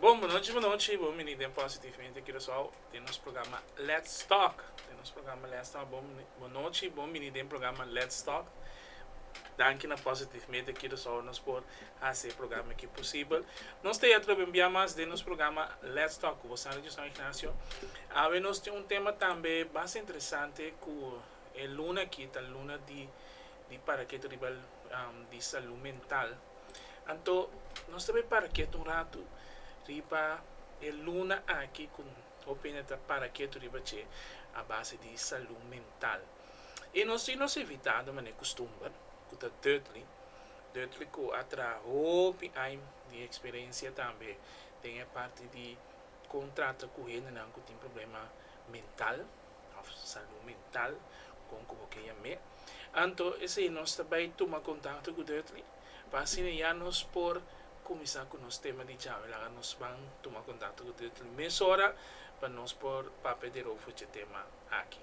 Bon, bonochi bonochi, bon bini den Positivamente Curaçao, den nos programa Let's Talk, den nos programa Let's Talk, bon bonochi, bon bini den programa Let's Talk, danki na Positivamente Curaçao nos por haci e programa aki posibel, nos ta yato loba un bia mas den nos programa Let's Talk cu boso Radio San Ignacio, awe nos tin un tema tambe basta interesante cu e luna aki ta luna di di paraketo riba di salud mental. Anto nos ta bai para ketu un ratu riba e luna aki ku hopi hende ta para ketu riba dje a base di salu mental. I nos tin nos invitado manera kustumber ku ta Dudley, Dudley ku a traha hopi aña di eksperensia tambe den e parti di kon trata ku hendenan ku tin problema mental. of salú mental kon ku bo ke yam'é. Anto esei nos ta bai tuma kontakto ku Dudley, pa asina ya nos por kuminsá ku nos tema di djawe. Laga nos ban tuma kontakto ku Dudley mesora pa nos por papia di Rofo dje tema aki.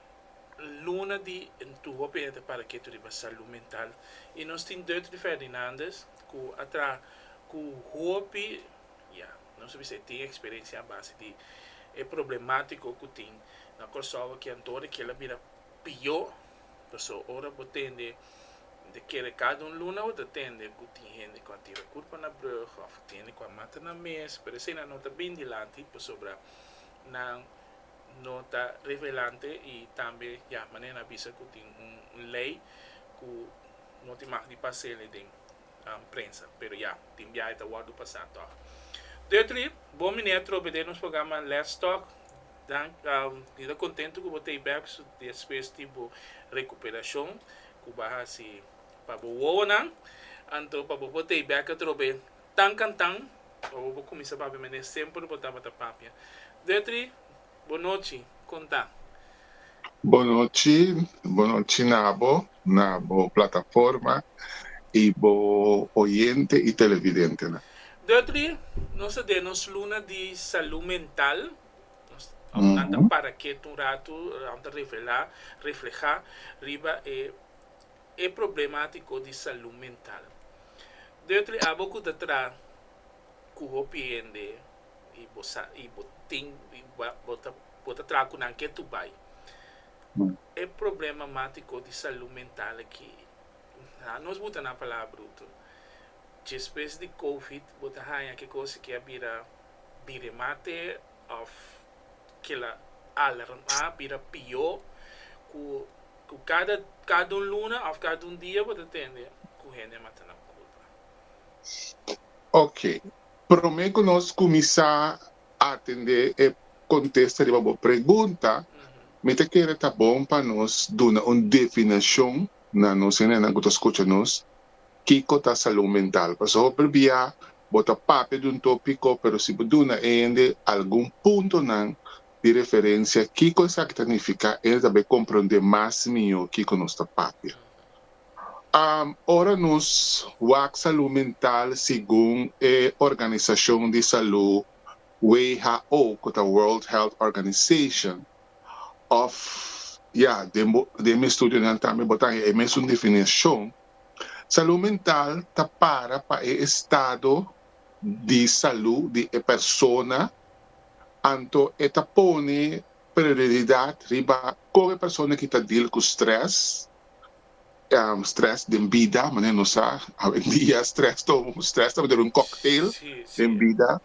luna di ntuho p'e ta para ketu riba salú mental i nos tin Dutri Ferdinandes ku a traha ku hopi, ya, nos a bisa e tin eksperensia a base di e problemátiko ku tin na Kòrsou aki anto di kel a bira pió, pasó ora bo tende di kere kada un luna bo ta tende ku tin hende ku a tira kurpa na brùg òf tin hende ku a mata nan mes, pero eseinan no ta bin dilanti pasobra nan. no ta revelante y tambe ya manera nan a bisa cu tin un ley cu no tin mag di pasele den prensa pero ya tin biahe ta wordo pasa toch. Dutry bon mi ne trobe den nos programa Let's Talk dank mi ta contento cu bo ta y bek despues di bo recuperacion cu bo a haci pa bo wowonan anto pa bo por ta y bek atrobe Tan can tan, ora bo cuminsa papia mene semper bo tabata papia. Detri, Bo nochi, con ta? Bo nochi, bo nochi nabo, na bo plataforma y bo oyente y televidentenan. Detri, Nos ta den nos luna di salud mental, nos nan ta para kiet un rato, nan ta revela, refleha riba e. e problematiko di salú mental. Dutry abo ku ta traha ku hopi hende i bo sa i bo tin bo ta bo ta traha ku nan ke tur bai. E problemamatiko di salú mental aki a nos buta nan palabra bruto. Despues di covid bo ta haña ke kos aki a bira di remate of kila alerma bira pió ku ku kada kada un luna of kada un dia bo ta tende ku hende mata nan kulpa. Ok, promé ku nos kuminsá atendé e kontesta riba bo pregunta, mi ta kere ta bon pa nos duna un definishon na nos hendenan ku ta skucha nos Kiko ta salun mental? Pasobra bo prebia bo ta papia di un topiko pero si bo duna e hende algun puntonan di referensia kiko esaki ta nifiká hende ta bay komprondé mas mihó kiko nos ta papia. Ora nos wak salun mental segun e organisashon di salú who ku ta World Health Organization òf ya den bo den mi estudionan tambe bo ta haña e mesun definishon Salú mental ta para pa e estado di salú di e persona, anto e ta pone prioridat riba kon e persona ki ta deal ku strès, strès den bida, manera nos sa awendia strès ta un strès ta manera un cocktail den bida.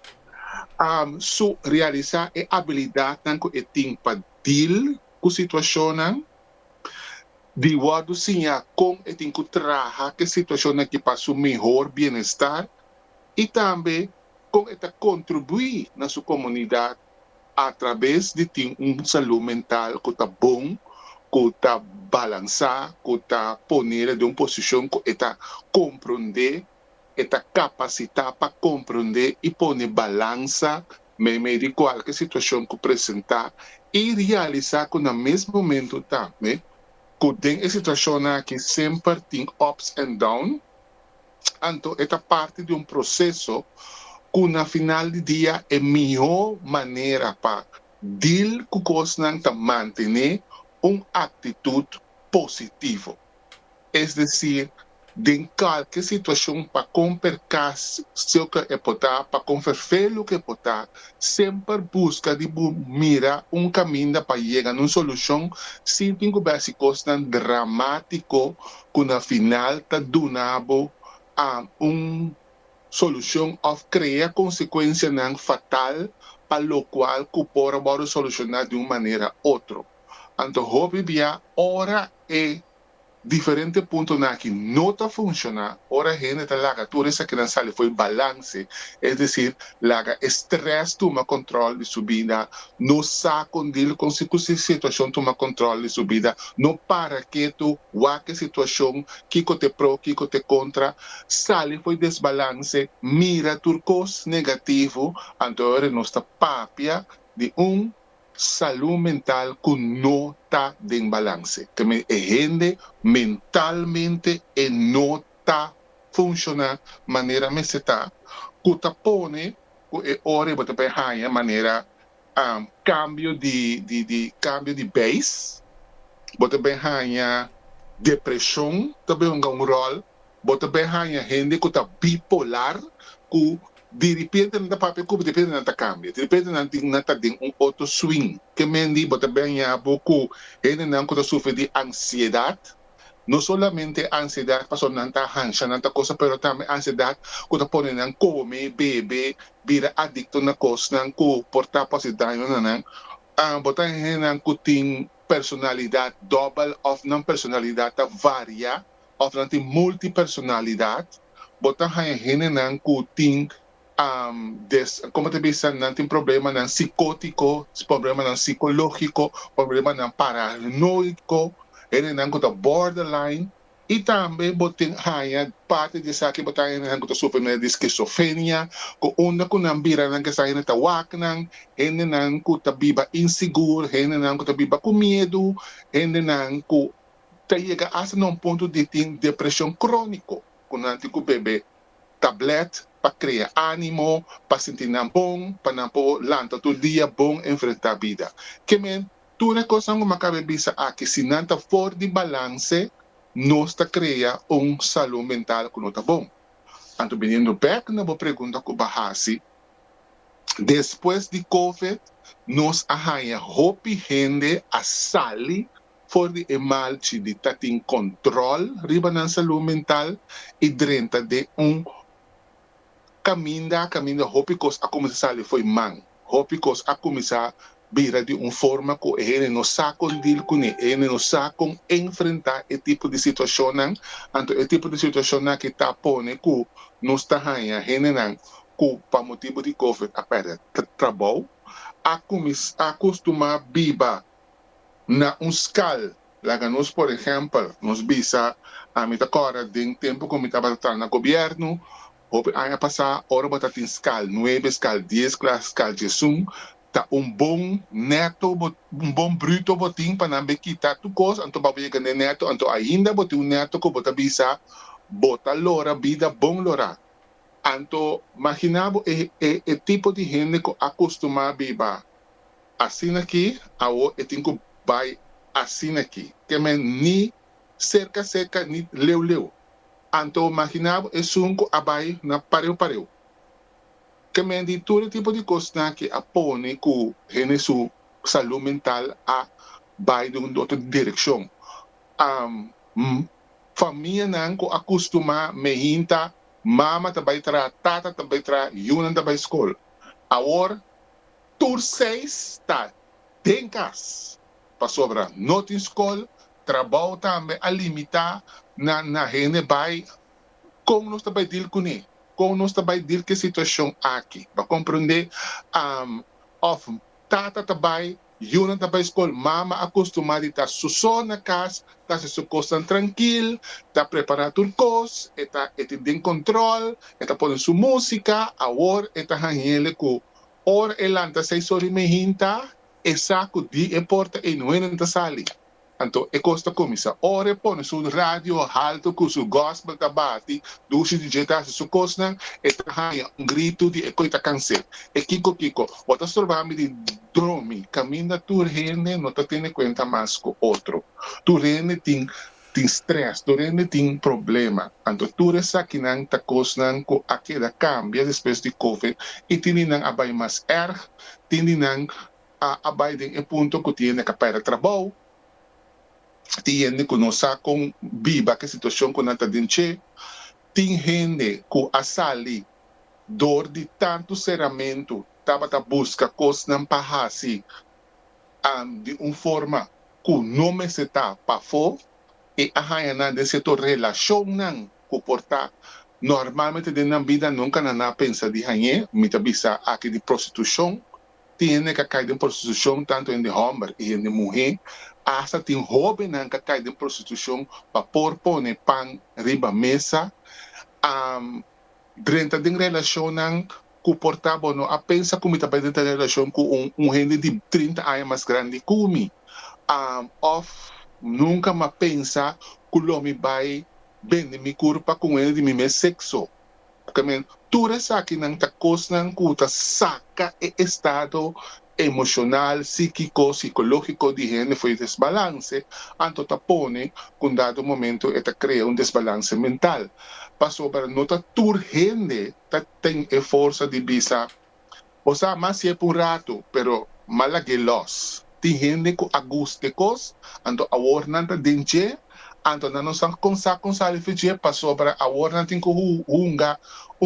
So realisá e abilidatnan ku e tin pa deal ku situashonnan. di wòrdu siñá kon e tin ku traha ku e situashonnan ki pa su mihor bienestar i tambe kon e ta kontribuí na su komunidat atrabes di tin un salú mental ku ta bon, ku ta balansá, ku ta ponele den un posishon ku e ta komprondé. e ta kapasitá pa komprendé i pone balansa meimei di kualke situashon ku presentá i realisá ku na mes momentu tambe ku den e situashonnan aki semper tin ups and down anto e ta parti di un proseso ku na final di dia e mihó manera pa deal ku kosnan ta mantené un aktitut positivo. es decir, den cualkier situacion pa con percas si oca e por ta, pa con ferfer lo que por ta, semper busca di bo mira un caminda pa yega na un solucion sin tin cu bersi cosnan dramatico cu na final ta duna bo un solucion of crea consecuencianan fatal pa locual cu por a worde soluciona di un manera otro. Anto hopi bia ora E diferente puntonan aki no ta funciona ora hende ta laga tur esakinan sali fo'i balance, es decir, laga e stress tuma control di su bida, no sa con deal con si cu si situacion tuma control di su bida, no para ketu, wak e situacion, kico t'e pro, kico t'e contra, sali fo'i desbalance, mira tur cos negativo, anto e ora nos ta papia di un Salú mental ku no ta den balanse. Teme e hende mentalmente e no ta funshoná manera mester ta, ku ta pone ku e ora e bo ta por haña manera kambio di di kambio di beis. Bo ta por haña depreshon ta por hunga un ròl Bo ta bai haña hende ku ta bipolar ku diripente nan ta papia e kup, diripente nan ta kambia, diripente nan tin nan ta den un otro swing. Ke men di bo ta bai haña bo ku hendenan ku ta sufri di ansiedat, no solamente ansiedat pasobra nan ta hansha, nan ta kosa, pero tambe ansiedat ku ta pone nan kome, bebe, bira adikto na kosnan ku por ta por hasi daño na nan. Bo ta haña hendenan ku tin personalidat dòbel òf nan personalidat ta varia. òf nan tin multipersonalidad, bo ta haña hendenan ku tin des, komo ta bisa, nan tin problemanan sikótiko, problemanan sikológiko, problemanan paranoiko, hendenan ku ta borderline, i tambe bo tin haña parti di esaki bo ta haña hendenan ku ta sufri meda di skisofrenia, ku unda ku nan bira nan ke sa hende ta waknan, hendenan ku ta biba insigur, hendenan ku ta biba ku miedu, hendenan ku ta yega asta na un punto di tin depresion crónico cu nan tin cu bebe tablet pa crea ánimo, pa sinti nan bon, pa nan por lanta tur dia bon enfrenta bida. Kemey, tur e cosnan cu m'acabe bisa aki, si nan ta for di balance, nos ta crea un salud mental cu no ta bon. Anto biniendo bek na bo pregunta cu b'a haci, despues di Covid nos a haña hopi hende a sali for di e malchi di ta tin control riba nan salud mental y drenta den un caminda caminda hopi cos a cuminsa sali fo'i man, hopi cos a cuminsa bira di un forma cu e hende no sa con deal cune, e hende no sa con enfrenta e tipo di situacionnan, anto e tipo di situacionnan aki ta pone cu nos ta haya hendenan cu pa motibu di covid a perde trabou, a cuminsa a costuma biba na un skal. Laga nos por ehèmpel, nos bisa, ami ta kòrda den tempu ku mi tabata traha na gobièrnu, hopi aña pasá, ora bo ta tin skal nuebe, skal dies klas, skal djesun, ta un bon neto bo, un bon bruto bo tin pa nan be kita tur kos, anto ba bo yega n'e neto, anto ainda bo tin un neto ku bo ta bisa, Bo ta lora bida bon lorá. Anto, maginá bo e, e, e tipo di hende ku a kustumá biba. Asina ki, awo e tin ku bai asina ki. Ke men ni serka serka ni leu leu. Anto maginá bo esun ku a bai na pareu pareu. Ke men di tur e tipo di kosnan ki a pone ku hende su salú mental a bai den un otro direkshon. Famianan ku a kustumá mehín ta mama ta bai traha, tata ta bai traha, yunan ta bai skol. Awor. tur seis ta den kas, pasobra no tin skol, trabou tambe a limitá na na hende bai. Kon nos ta bai dil kuné? Kon nos ta bai dil ku e situashon aki? Bo a komprendé òf tata ta bai, yunan ta bai skol, mama a kustumá di ta susó na kas, ta hasi su kosnan trankil, ta prepará tur kos, e ta e tin den kontrol, e ta pone su músika, awor e ta hanhele ku Ora e lanta sai so rimen hinta e saku di e porta e nuenen ta sali. Anto e kos ta kuminsá. Ora e pone su radio haltu ku su gòspel ta bati dushi di dje ta hasi su kosnan, e ta haña un gritu di e koi ta kans'é, E Kiko Kiko, bo ta storbá mi di dromi! Kaminda tur hende no ta tene kuenta mas ku otro. Tur hende tin. Tin stress, tur hende tin problema, anto tur esakinan ta cosnan cu a keda cambia despues di covid y tin di nan a bay mas erg, tin di nan a a bay den e punto cu tin hende ca perde trabao, tin hende cu no sa con biba cu e situacion cu nan ta den dje, tin hende cu a sali door di tanto ceramento tabata busca cosnan pa haci an di un forma ku no mester ta pafó. E a haña nan den sierto relashonnan ku por ta normalmente den nan bida nunka nan a pensa di hañ'é. Mi ta bisa aki di prostitushon. Tin hende ka kai den prostitushon, tantu hende hòmber i hende muhé. Asta tin hóbennan ka kai den prostitushon pa por pone pan riba mesa. Drenta den relashonnan ku por ta bo no a pensa ku mi ta bai den ta relashon ku un un hende di trinta aña mas grandi ku mi òf nunka mi a pensa ku lo mi bai bende mi kurpa ku un hende di mi mes sekso pasobra mi tur esakinan ta kosnan ku ta saka e estado emoshonal, síkiko, sikológiko di hende for di desbalanse anto ta pone ku un dado momento e ta krea un desbalanse mental pasobra no ta tur hende ta tin e forsa di bisa, Bo sa mas si'e pa un ratu, pero m'a lag'é lòs. Tin hende ku a gus dje kos, anto awor nan ta den dje, anto nan no sa kon sa kon sali fi dje, pasobra awor nan tin ku hunga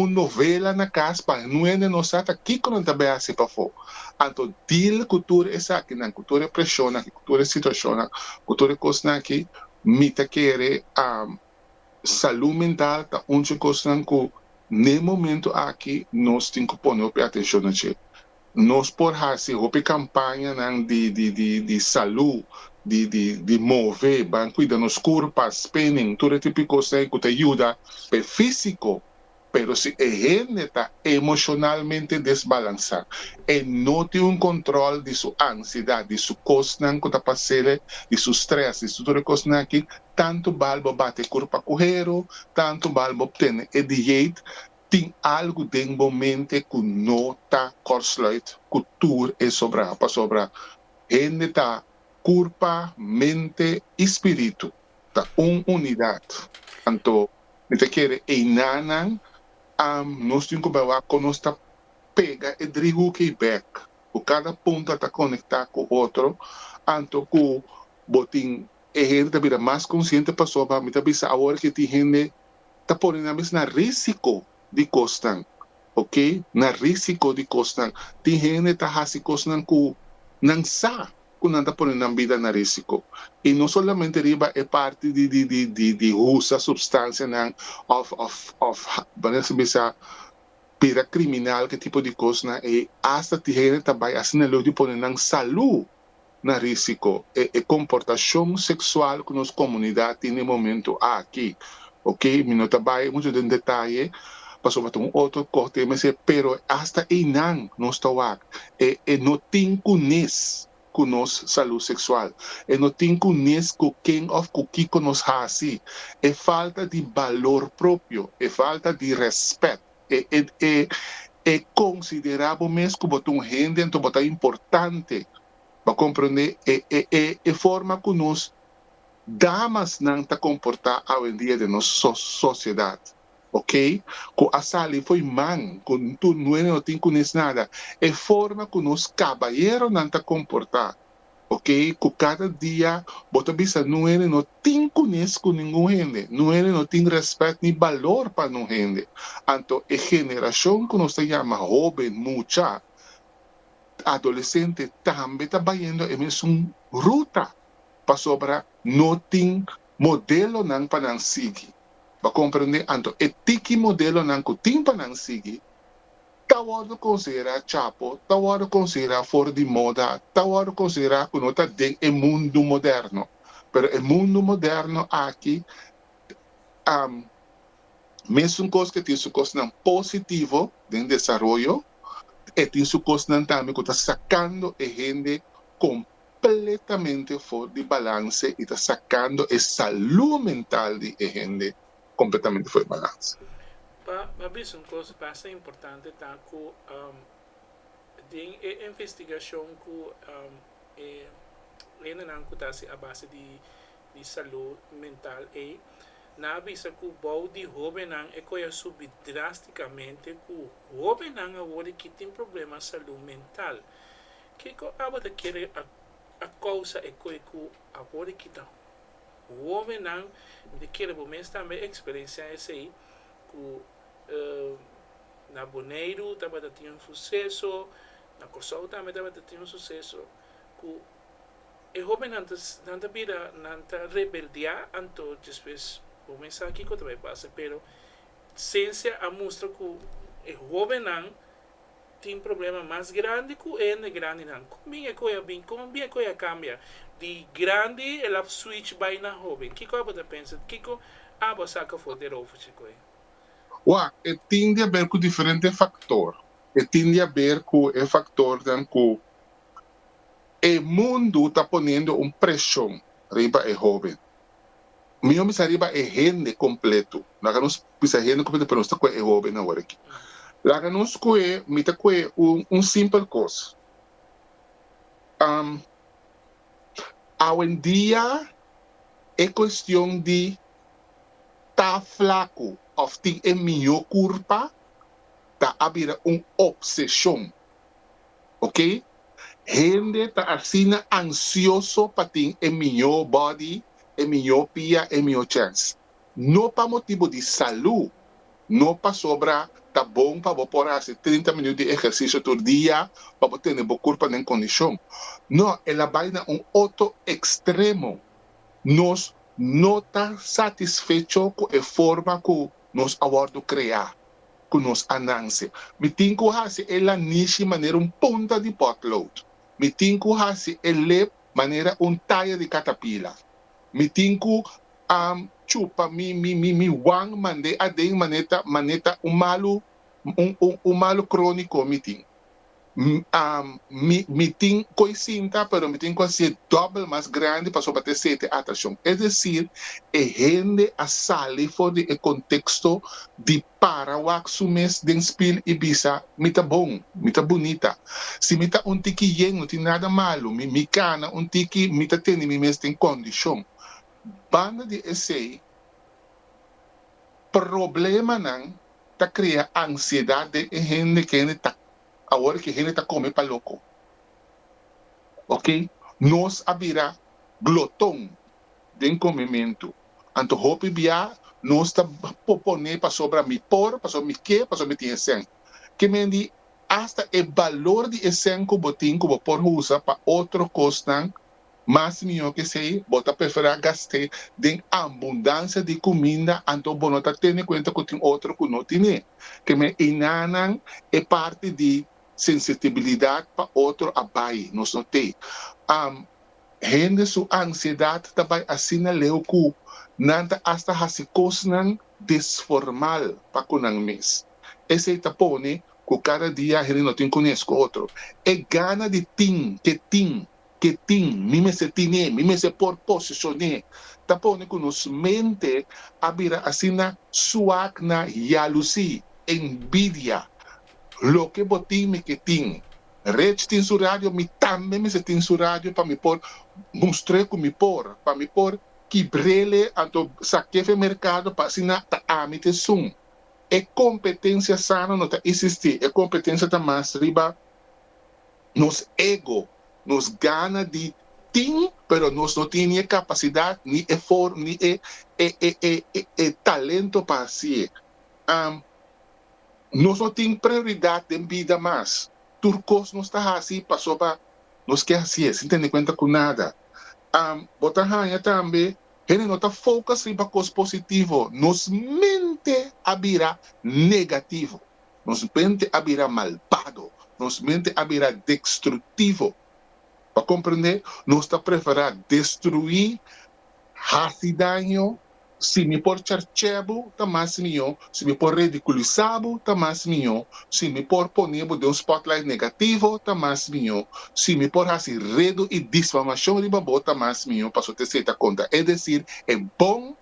un novela na kas pa nuende no sa ta kiko nan ta bai hasi pafó. Anto deal ku tur esakinan, ku tur e preshonnan aki, ku tur e situashonnan, ku tur e kosnan aki, mi ta kere salú mental ta un dje kosnan ku n'e momentu aki nos tin ku pone hopi atenshon na dje. Nos por hasi hopi kampañanan di di di salú, di di di move, ban kuida nos kurpa, spinning, tur e tipo di kosnan ei ku ta yuda pa e físiko Pero si e hende ta emoshonalmente desbalansá, e no tin un kontròl di su ansiedat, di su kosnan ku ta pas'e, di su strès, di su tur e kosnan aki, tantu bal bo bati e kurpa ku heru, tantu bal bo obtene e dieit, tin algu den bo mente ku no ta kòrsluit ku tur e sobrá, pasobra hende ta kurpa, mente i spiritu. ta un unidat. Anto mi ta kere einanan am nos tin ku bawá kon nos ta pega e dri huk ei bèk, ku kada punta ta konektá ku otro, anto ku bo tin e hende ta bira mas konsiente pasobra mi ta bisa awor ke tin hende ta pone nan mes na risiko di kosnan, ok, na risiko di kosnan. Tin hende ta hasi kosnan ku nan sa ku nan ta pone nan bida na risiko. I no solamente riba e parti di di usa supstansianan òf òf òf mane nan sibi sa bira kriminal ke tipo di kosnan ei. Asta tin hende ta bai asina leu di pone nan salú. na risiko e e komportashon seksual ku nos komunidat tin den e momentu aki. Oke, mi no ta bai muchu den detaye pasobra ta un otro kos tema esei, pero asta einan nos ta wak e e no tin ku nes ku nos salu seksual, e no tin ku nes ku ken òf ku kiko nos hasi, e falta di balor propio, e falta di rèspèt. E considera bo mes cu bo ta un hende anto bo ta importante. Bo a comprende e forma cu nos damasnan ta comporta awendia den nos sociedad, ok? Cu a sali fo'i man, cu tur nuene no tin cunes nada. E forma cu nos cabayeronan ta comporta, ok, ku kada dia bo ta bisa no hende no tin kunes ku ningun hende, no hende no tin rèspèt ni balor pa no hende. Anto e generashon ku nos ta yama hóben, mucha, adolesente tambe ta bayendo e mesun ruta pasobra no tin modelonan pa nan sigui. Bo a komprendé? Anto e tiki modelonan ku tin pa nan sigui. ta wòrdu konsiderá chapo, ta wòrdu konsiderá for di moda, ta wòrdu konsiderá ku no ta den e mundu moderno. Pero e mundu moderno aki am mesun kos ke tin su kosnan positivo den desaroyo, e tin su kosnan tambe ku ta sakando e hende kompletamente for di balanse i ta sakando e salú mental di e hende completamente for e balans. Pa a bisa un cos basta importante ta cu den e investigacion cu e hendenan cu ta haci a base di salud mental ey nan a bisa cu bao di hobennan e coi a subi drasticamente cu hobennan awor aki tin problema salud mental. Kico abo ta kere a causa e coi cu awor aki ta. Homennan, mi ta kere bo mes tambe experencia esey cu na Boneiru tabata tin un suceso, na Corsou tambe tabata tin un suceso, cu e homennan ta nan ta bira nan ta rebeldia anto despues bo mes sa kico ta bay pasa pero cencia a mustra cu e homennan. Tin problema mas grandi ku hende grandinan. Kon bin e koe a bin? Kon bin e koe a kambia di grandi el a switch bai na hoben? Kiko abo ta pensa? Kiko abo a saka for di e rofa chi koe? Wak, e tin di aber ku diferente faktor. E tin di aber ku e faktornan ku e mundu ta poniendo un preshon riba e hoben. Mi no bisa riba e hende kompletu. Laga nos bisa e hende kompletu, pero nos ta koe e hóben awor akí. Laga nos koe, mi ta koe un, un simpel kos. Um, awendia e kuestion di ta flaku òf tin e mihó kurpa ta a bira un opseshon. ok. Hende ta asina ansioso pa tin e mihó bòdi, e mihó pia, e mihó chèns. No pa motibu di salú, no pasobra ta bon pa bo por hasi trinta minut di ehersisio tur dia pa bo tene bo kurpa den kondishon. No, el a bai na un otro ekstremo. Nos no ta satisfecho ku e forma ku nos a wòrdu kreá. ku nos a nanse. Mi tin ku hasi e lanishi manera un punta di pòtlout. Mi tin ku hasi e lep manera un taya di katapila. Mi tin ku a chupa mi mi mi wang mand'é aden maneta maneta un malu un un un malu króniko mi tin. mi tin koe sinta pero mi tin ku hasié dòbel mas grandi pasobra pa te sete atrashon. Es desir, e hende a sali for di e konteksto di para wak su mes den spil i bisa, Mi ta bon, mi ta bunita. Si mi ta un tiki yen no tin nada malu, mi mi kana un tiki, mi ta tende mi mes den kondishon. Banda di esei, problemanan ta krea ansiedat den e hende ke hende ta awor ke hende ta kome pa loko. Ok, nos a bira gloton den komementu, anto hopi bia nos ta popone pasobra mi por, pasobra mi ke, pasobra mi tin esen. Ke men di asta e balor di esen ku bo tin ku bo por usa pa otro kosnan Mas mihó ke esei, bo ta preferá gast'é den ambundansia di kuminda anto bo no ta tene kuenta ku tin otro ku no tin'é. Kem'é einanan e parti di sensitibilidat pa otro a bai? Nos no t'é. Am, Hende su ansiedat ta bai asina leu ku nan ta asta hasi kosnan desformal pa ku nan mes. Esei ta pone ku kada dia hende no tin kunes ku otro. E gana di tin ke tin ke tin, mi mester tine, mi mester por posesioné, ta pone ku nos mente a bira asina suak na yalusí, enbidia. Loke bo tin mi ke tin. Rich tin su radio, mi tambe mester tin su radio pa mi por mustr'é ku mi por, pa mi por kibr'ele anto sak'é fen merkado pa asina ta ami t'esun. E kompetensia sano no ta isistí, e kompetensia ta mas riba. nos ego, nos gana di tin pero nos no tin ni e capacidad, ni e for, ni e e e e e talento pa haci'e. Am Nos no tin prioridad den bida mas. Tur cos nos ta haci pasobra nos ke haci'e sin tene cuenta cu nada. Am Bo ta hanja tambe hende no ta focus riba cos positivo, nos mente a bira negativo. Nos mente a bira malbado. Nos mente a bira destruktivo. Pa komprendé, nos ta preferá destruí, hasi daño. Si mi por charch'é bo, ta mas mihó. Si mi por ridikulisá bo, ta mas mihó. Si mi por pon'é bo den un spotlight negativo, ta mas mihó. Si mi por hasi redu i disfamashon riba bo, ta mas mihó. Pasobra te esei ta konta. Es desir, e bon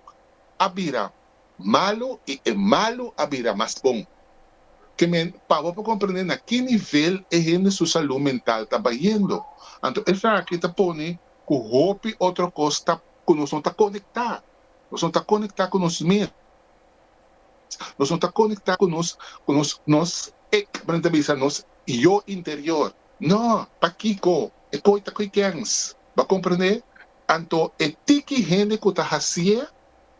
a bira malu i e malu a bira mas bon. Ke men pa bo por komprende na ki nivel e hende su salú mental ta bayendo. Anto e fraga aki ta pone ku hopi otro kos ta ku nos no ta konektá. Nos no ta konektá ku nos mes. Nos no ta konektá ku nos ku nos nos ik, men ta bisa nos yo interior. No, pakiko? E koi ta koi kèns. Bo a komprende? Anto e tiki hende ku ta hasié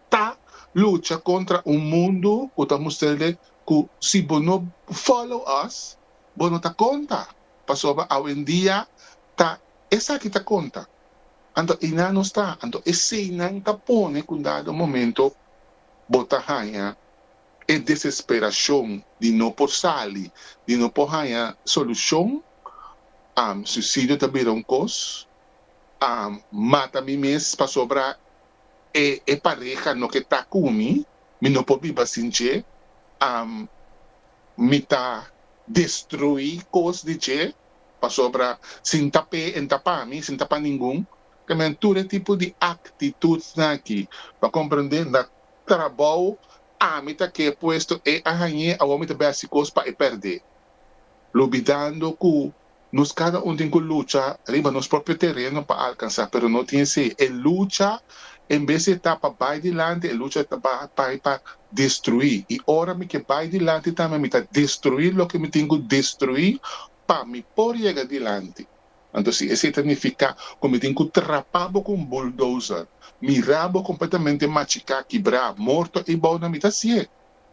ta lucha kontra un mundu ku ta mustr'e ku si bo no follow us bo no ta konta, pasobra awendia ta esaki ta konta. Anto einan nos ta, anto eseinan ta pone ku un dado momento bo ta haña e desesperashon di no por sali, di no por haña solushon, suisidio ta bira un kos, mata mi mes pasobra E e pareha no ke ta ku mi, mi no por biba sin dje, am, mi ta destrui kos di dje, pasobra si N ta p'e, e N ta pa mi, si N ta pa ningun. Ta mira tur e tipo di aktitutnan aki pa komprendé N ta trabou, ami ta ke puesto, e a hañ'é, awor mi ta b'e hasi kos pa e pèrd'é, lubidando ku Nos cada un tin cu lucha riba nos propio tereno pa alcansa, pero no tin así. E lucha en vez di ta pa bay dilanti, e lucha ta pa bay pa destrui. Y ora mi ke bay dilanti tambe mi ta destrui loke mi tin cu destrui pa mi por yega dilanti. Anto si esey ta nifica cu mi tin cu trapa bo cu un bulldozer, mira bo completamente machica, kibra, morto ey bou nan mi ta hacié.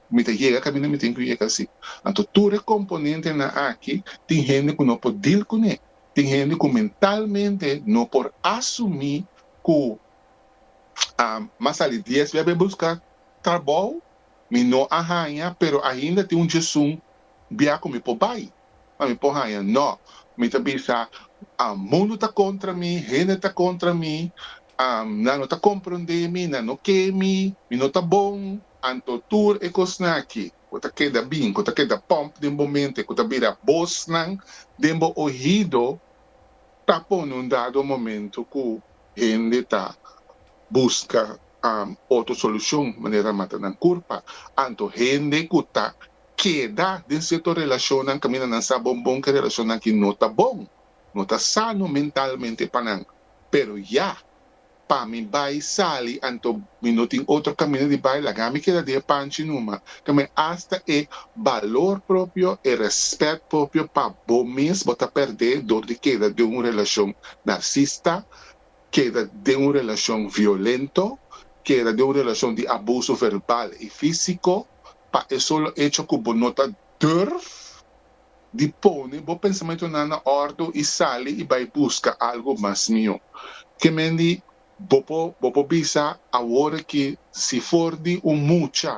ku mi ta yega kaminda mi tin ku yega si. Anto tur e komponentenan aki tin hende ku no por dil kuné. Tin hende ku mentalmente no por asumí ku m'a sali dies bia be buska trabou, mi no a haña pero ainda tin un djesun bia ku mi por bai, pa mi por haña. Nò, mi ta bisa, mundu ta kontra mi, hende ta kontra mi, nan no ta komprondé mi, nan no ke mi, mi no ta bon. Anto tur e kosnan aki ku ta keda bin, ku ta keda pòmp den bo mente, ku ta bira bosnan den bo ohido, ta pone un dado momento ku hende ta buska otro solushon manera mata nan kurpa. Anto hende ku ta keda den sierto relashonnan kaminda nan sa bon bon ku e relashonnan aki no ta bon, no ta sano mentalmente pa nan, pero ya. Pa mi bai sali anto mi no tin otro camino di bai laga mi keda di e panchi numa tambe hasta e balor propio e respet propio pa bo mes bo ta perde dor di keda den un relacion narcista keda den un relacion violento keda den un relacion di abuso verbal y fisico pa e solo hecho cu bo no ta durf di pone bo pensamentonan na òrdu i sali i bai buska algu mas mihó. Kemendi bo por bo por bisa awor aki si for di un mucha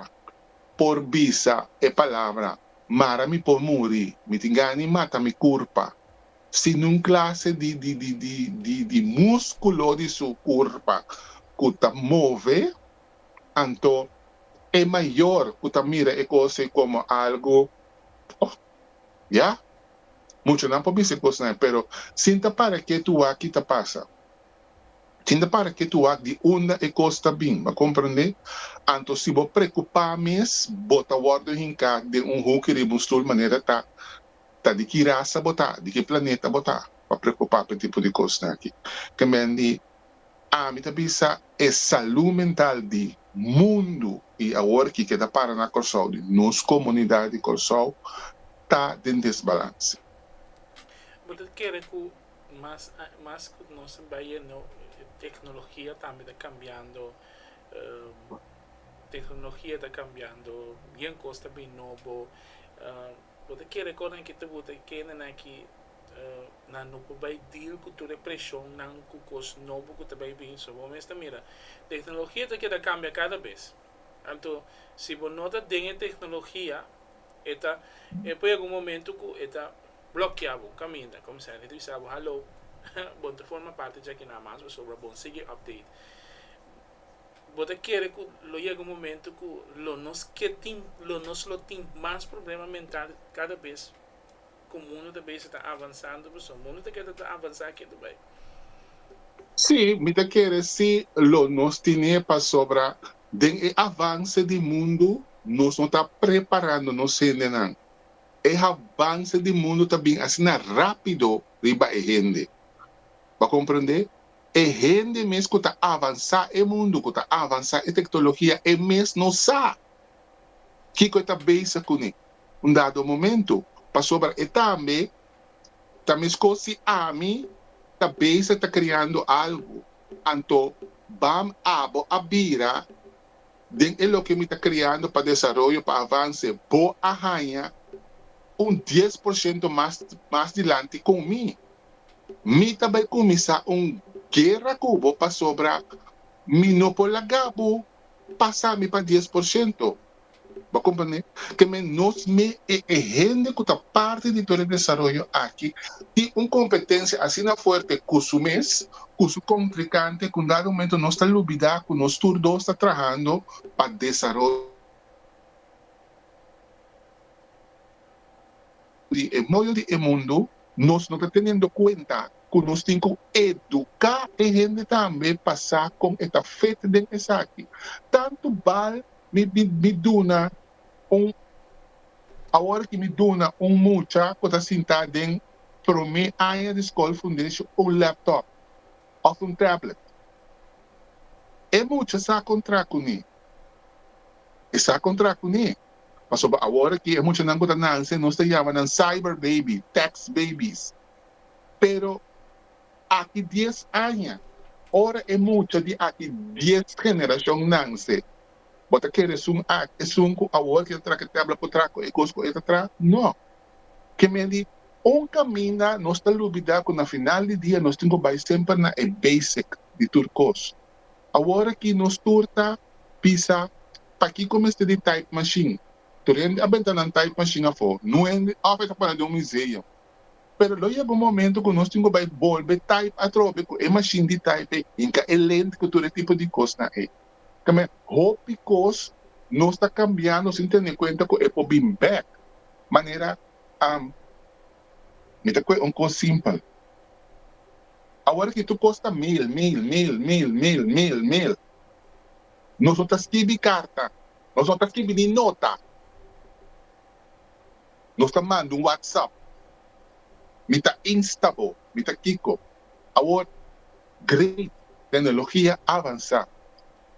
por bisa e palabra, Mara mi por muri, mi tin gani mata mi kurpa, sin un klase di di di di di di múskulo di su kurpa ku ta move, Anto e mayor cu ta mira e cos ey como algo, oh, ya, muchanan por bisa e cosnan ey, pero sin ta para ke tu wak-y ta pasa, sin ta para ke tu wak di unda e cos ta bin, bo a comprende? Anto si bo preocupa mes, bo ta wordo hinca den un hoekje riba un stoel manera ta, ta di ki raza bo ta, di ki planeta bo ta pa preocupa p'e tipo di cosnan aki. Te mende. Ami ta bisa e salú mental di mundu i awor kiko e ta para na Kòrsou, di nos komunidat di Kòrsou, ta den desbalans. Bo ta kere ku mas mas ku nos a bai e nou teknologia tambe ta kambiando, teknologia ta kambiando, bien kos ta bin nobo. Bo ta kere kon nan kita buta e kendenan ki nan no por bai deal ku tur e preshonnan ku kos nobo ku ta bai bin? So, bo mes ta mira, teknologia ta keda kambia kada bes. Anto, si bo no ta den e teknologia, e ta e por yega un momentu ku e ta blokia bo kaminda, kominsa e ta bisa bo, Hallo, bo no ta forma parti dja aki na mas, pasobra bo no sigui update. bo ta kere ku lo yega un momentu ku lo nos ke tin, lo nos lo tin mas problema mental kada bes ku mundu ta bai sa ta avansando, pasobra mundu ta keda ta avansá keda bai. Sí, mi ta kere si lo nos tin'é pasobra den e avanse di mundu nos no ta preparando nos hendenan. E avanse di mundu ta bin asina rápido riba e hende. Bo a komprendé? E hende mes ku ta avansá e mundu, ku ta avansá e teknologia, e mes no sa kiko e ta bisa kuné un dado momentu. Pasobra e tambe ta meskos si ami ta bisa ta kreando algu, anto bam abo a bira den e loke mi ta kreando pa desaroyo, pa avanse, bo a haña un dies por shento mas mas dilanti kon mi. Mi ta bai kuminsá un guera ku bo pasobra mi no por laga bo pasa mi pa dies por shento. Bo komprendé ke menos me e e hende ku ta parti di Perú Desaroyo aki tin un kompetensia asina fuerte ku su mes, ku su kontrikante ku un dado momento nos ta lubidá ku nos tur dos ta trahando pa desaroyo. di e moño di e mundu, nos no ta teniendo cuenta cu nos tin cu educa e hende tambe pa sa con e ta fit den esaki. Tanto bal mi mi duna un awor aki mi duna un mucha cu ta sinta den prome aña di scol foundation un laptop of un tablet. E mucha sa contra cune? E sa contra cune? Pasobra awor aki e muchanan ku ta nanse nos ta yama nan cyber baby, tax babies. Pero aki dies aña, ora e mucha di aki dies generashon nanse, bo ta kere esun aki, esun ku awor kel tra ke tabla por tra ku e kos ku e ta tra? No. Ke men di, Un kaminda nos ta lubidá ku na final di dia nos tin ku bai semper na e basic di tur kos. Awor aki nos tur ta bisa pakiko mester di type machine. Tur hende a benta nan type machine afó, nu hende òf e ta pone den un museum. Pero lo yega un momento ku nos tin ku bai bolbe type atrobe ku e machine di type ei, hinka e lent ku tur e tipo di kosnan ei. Tambe hopi kos nos ta kambiando sin tene kuenta ku e por bin bèk. Manera. Mi ta kue un kos simpel. Awor ki tur kos ta mil, mil, mil, mil, mil, mil, mil. Nos no ta skibi karta. Nos no ta skibi ni nota. Nos ta manda un whatsapp. Mi ta insta bo, mi ta kiko. Awor, great, teknologia a avansá.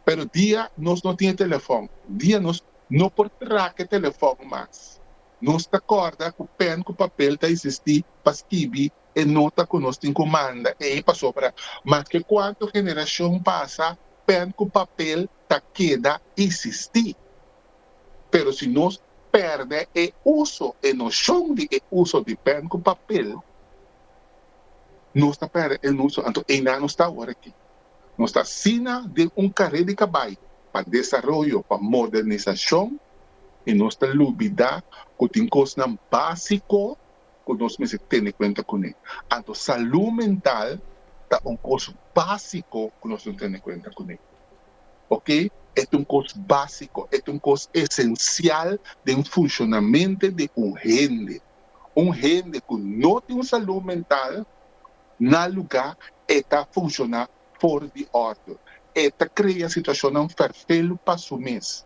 Pero dia nos no tin e telefòn, dia nos no por traka e telefòn mas, Nos ta kòrda ku pèn ku papel ta esistí pa skibi e nota ku nos tin ku manda ei pasobra maske kuantu generashon pasa pèn ku papel ta keda esistí. Pero si nos pèrdè e uso, e noshon di e uso di pèn ku papel, nos ta pèrdè e uso, anto einan nos ta awor aki. Nos ta sina den un karé di kabayo pa desaroyo, pa modernisashon i nos ta lubidá ku tin kosnan básiko ku nos mester tene kuenta kuné. Anto salú mental ta un kos básiko ku nos lo tene kuenta kuné. Oke, e ta un kos básiko, e ta un kos esensial den funshonamente di un hende. Un hende ku no tin salú mental, Na lugá e ta funshoná for di òrdu. E ta krea situashonnan ferfelu pa su mes.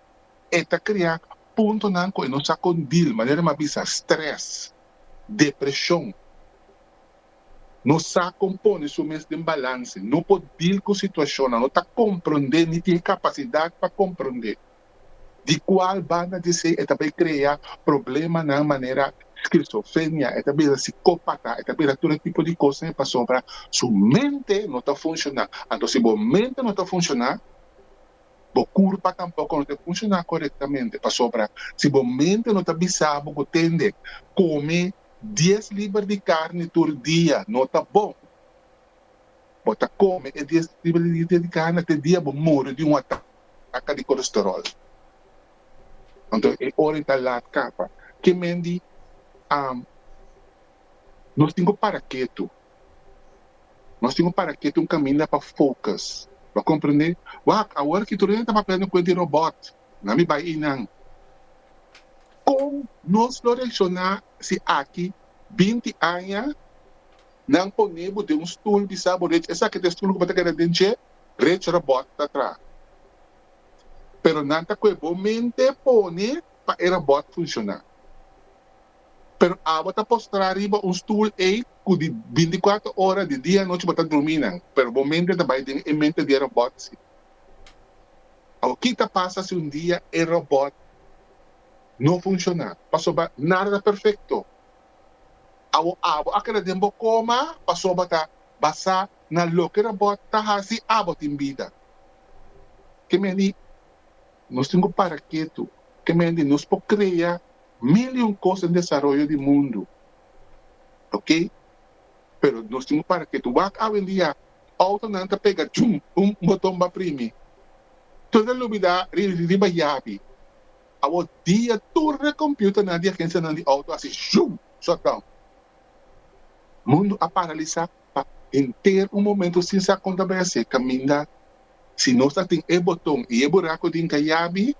E ta krea puntonan ku e no sa kon dil, manera mi a bisa, strès, depreshon, no sa kon pone su mes den balanse, no por dil ku situashonnan, no ta komprondé ni tin e kapasidat pa komprondé. di cual banda di esey e ta bay crea problemanan manera schizofrenia, e ta bira sicopata, e ta bira tur e tipo di cosnan pasobra su mente no ta funciona. Anto si bo mente no ta funciona, bo curpa tampoco no ta e funciona corectamente pasobra si bo mente no ta bisa bo cu tende come dies liber di carne tur dia no ta bon. Bo ta kome e dies riba di dia dediká na te dia bo muri di un ataka di kolesteròl. Anto e ora ei ta lat kapa. Ke men di, Am, nos tin ku para ketu. Nos tin ku para ketu un kaminda pa focus. Bo a komprendé? Wak, awor aki tur hende ta papia den kuent di robòt. Na mi bai einan. Kon nos lo reakshoná si aki binti aña Nan pone bo den un stul di sa bo rech esaki ta e stul ku bo ta keda den dje, rech robot ta tra. Pero nan ta kue bo mente pone pa e robot funshoná. Pero abo ta postrá riba un stul ei ku di bintikwatro ora di dia anochi bo ta drumí nan, pero bo mente ta bai den e mente di e robot si. Awor ki ta pasa si un dia e robot no funshoná? Pasobra nada ta perfekto. Awo abo a keda den bo koma pasobra ta basá na loke robot ta hasi abo tin bida. Ke men di nos tin ku para ketu, ke men di nos por krea mil i un kos den desaroyo di mundu, ok, pero nos tin ku para ketu. Wak awendia outonan ta pega chum un boton ba primi, tur ta lubidá riba yabi. Awor dia tur e computernan di agencianan di auto a haci zoom, shut down. Mundo a paralisa pa henter un momento sin sa con ta bai haci caminda. Si nos ta tin e boton y e buraco den cayabi,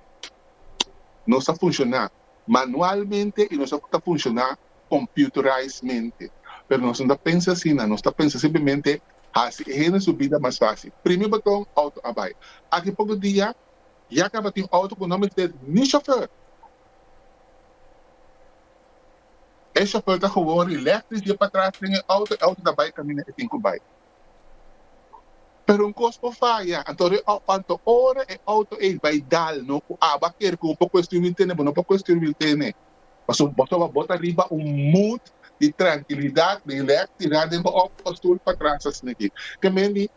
nos a funciona manualmente y nos a ta funciona computerizedmente. Pero nos no ta pensa asina, nos ta pensa simplemente haci e hende su bida mas facil. Primi boton, auto a bai. Aki poco dia Ya tabatin auto ku no mete ni shofèr. E shofèr ta gewoon rilektris i e patras den e auto, e auto ta bai kaminda e tin ku bai. Pero un kos por faya, anto e anto ora e auto ei bai dal no ku aba kere ku bo por kuestion wil tene, bo no por kuestion wil tene. Pasobra bo so bo ta riba un mood di trankilidat, rilektridad den bo auto pasobra patras ta sme'ki. Ke men di?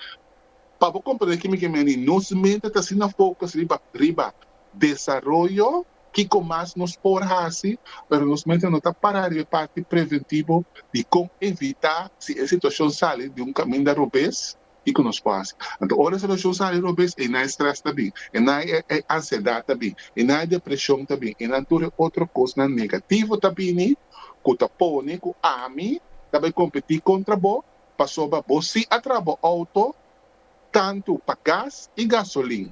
Pa bo komprende kimi ke mi a di, nos mente ta asina focus riba riba desaroyo, kiko mas nos por hasi, pero nos mente no ta para riba e parti preventivo di kon evitá si e situashon sali di un kaminda robes, kiko nos por hasi. Anto ora e situashon sali robes, einan e strès ta bin, einan e ansiedat ta bin, einan e depreshon ta bin, einan tur e otro kosnan negativo ta bini ku ta pone ku ami ta bai kompetí kontra bo. pasobra bo si a traha bo outo tantu pa gas i gasolin.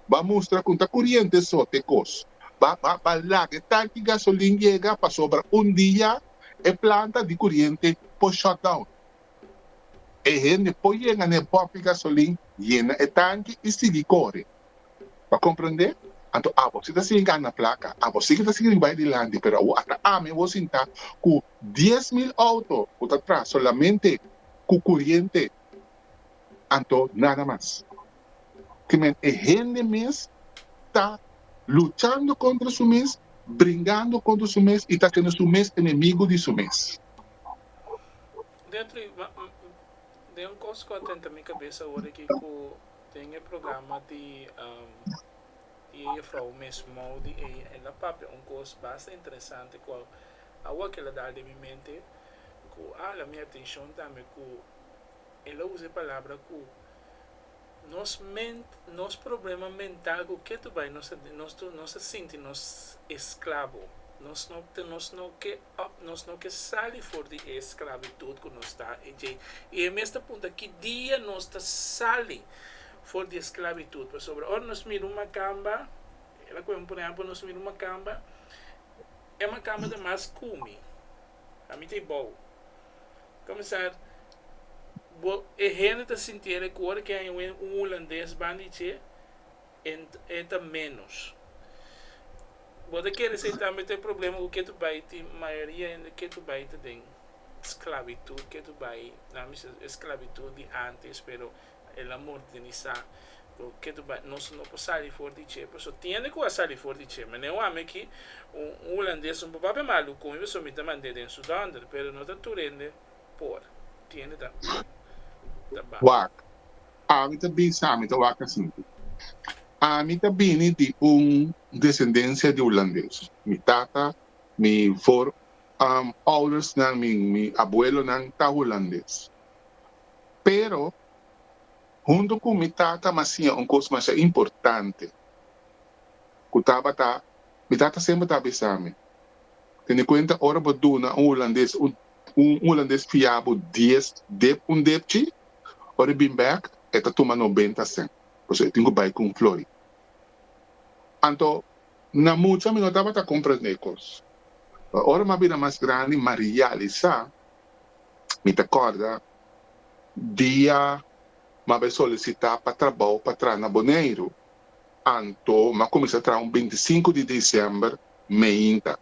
Bo a mustra ku ta kuriente so te kos. Bo a laga e tanki gasolin yega pasobra un dia e planta di kuriente por shutdown. E hende por yenga na e bòpia gasolin, yena e tanki i sigui kore. Pa komprendé, anto abo si ta sigui gana plaka, abo sigui ta sigui bai dilanti, pero awo ata ami bo sinta ku dies mil outo ku ta traha solamente ku kuriente, anto nada mas. Ti men e hende mes ta luchando kontra su mes, bringando kontra su mes i ta hasiendo su mes enemigu di su mes. Detri, ma, den un kos ku a tenta mi kabesa awor aki ku Den e programa di e jefrouw mes Mowdy ei, el a papia un kos basta interesante ku awa kel a dal den mi mente, ku a hala mi atenshon tambe ku el a usa e palabra ku nos ment, nos problema mental ku ke tu bai nos ta nos ta sinti nos esklabo, nos no nos no ke. Ap nos no ke sali for di e sklabitut ku nos ta e dje. I e mes ta punta, Ki dia nos ta sali for di e sklabitut? Pasobra ora nos mira un makamba, el a kume, por ehèmpel, nos mira un makamba, e makamba ta mas kume, a mita i bou. Komensar, bo e hende ta sinti el e ku ora ke un hulandes ban di dje. e ta menos. Bo ta kere si tambe ta e problema ku ke tu bai tin mayoria hende ke tu bai ta den sklabitud ke tu bai nan mi ser e sklabitud di antes pero el a modernisá ku ke tu bai nos no por sali for di dje paso tin hende ku a sali for di dje mane wak mi aki un hulandes un papá be malu kon mi paso mi ta mand'é den su donder pero no ta tur hende por tin hende ta wak. Ami ta bin sa, mi ta waka sinti. Ami ta bini di un desendensia di Hulandes. Mi tata, mi voor, um, oudersnan, mi, mi abuelonan ta Hulandes. Pero, huntu ku mi tata m'a siña un kos masha importante, ku tabata, mi tata semper ta bisa mi, Tene kuenta ora bo duna un Hulandes un Un hulandes fia bo dies dep un depchi, ora e bin bek e ta tuma nobenta sent, pasobra e tin ku bai ku un flori. Anto na mucha mi no tabata komprendé e kos. Pero ora mi a bira mas grandi mi a realisá, mi ta kòrda dia mi a bai solisitá pa trabou pa traha na Boneiru, anto mi a kuminsá traha un bintisinku di disiember meinta.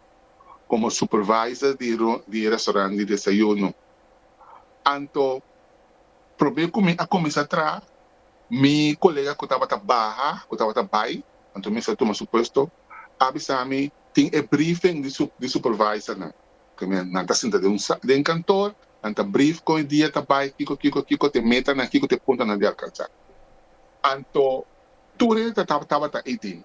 como supervisor di e restaurant di desayuno. Anto probe cu mi a cuminsa traha, mi colega cu tabata baha, cu tabata bay, anto mi sa tuma su puesto, a bisa mi, tin e briefing di supervisornan. Cu nan ta sinta den kantoor, nan ta brief con e dia ta bay, kico, kico, kico ta e metanan, kico ta e puntonan di alcansa. Anto tur e tabata ey ding.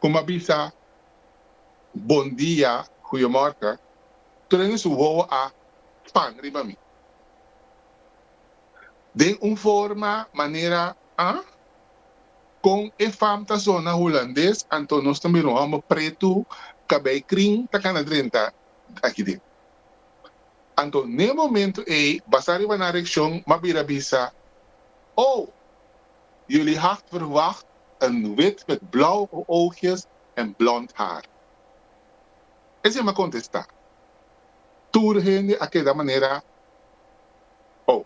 ku m'a bisa bon dia, goeiemorgen, tur den su wowo a pan riba mi den un forma, manera, a? Kon e fam ta sona hulandes, anto nos ta mira un hòmber pretu, kabei krin, ta kana drenta aki den. Anto n'e momentu ei, basá riba nan reakshon, m'a bira bisa, Oh! Jullie had verwacht een wit met blauwe oogjes en blond haar. Esei m'a contesta. Tur hende a keda manera Oh.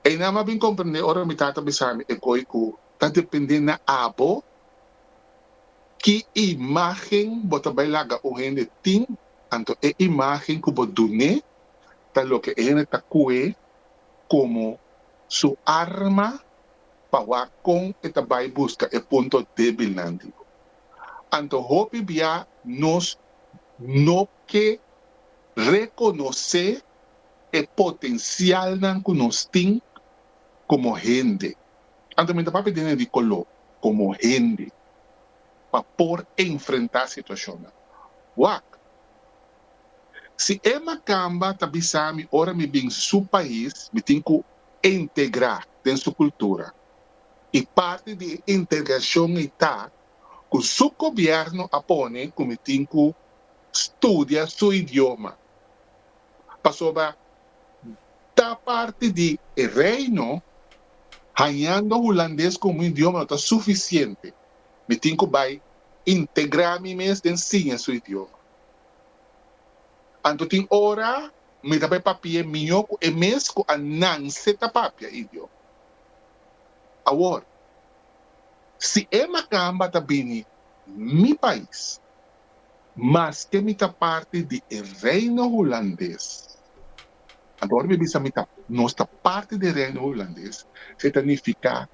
Eina m'a bin comprende ora mi tata bisami e koe cu ta depende na abo ki imagen bo ta bay laga un hende tin, anto e imagen cu bo dun'e ta loke e hende ta cue como su arma pa wak kon e ta bai buska e punto débilnan di bo. Anto hopi bia nos no ke rekonosé e potensialnan ku nos tin komo hende, anto mi ta papia den e di koló, komo hende, pa por enfrentá situashonnan. Wak. Si e makamba ta bisami ora mi bin su pais mi tin ku integra den su kultura i parti di e integrashon ei ta ku su gobièrnu a pone ku mi tin ku studia su idioma pasobra ta parti di e reino. Hañando hulandes komo un idioma no ta sufisiente, mi tin ku bai integra mi mes den siña su idioma. Anto tin ora mi ta bai papi'é mihó ku e mes ku a nance ta papia idió. Awor, si e makamba ta bini mi pais, maske mi ta parti di e Reino Hulandes, anto ora mi bisa mi ta, nos ta parti di e Reino Hulandes, se ta nifiká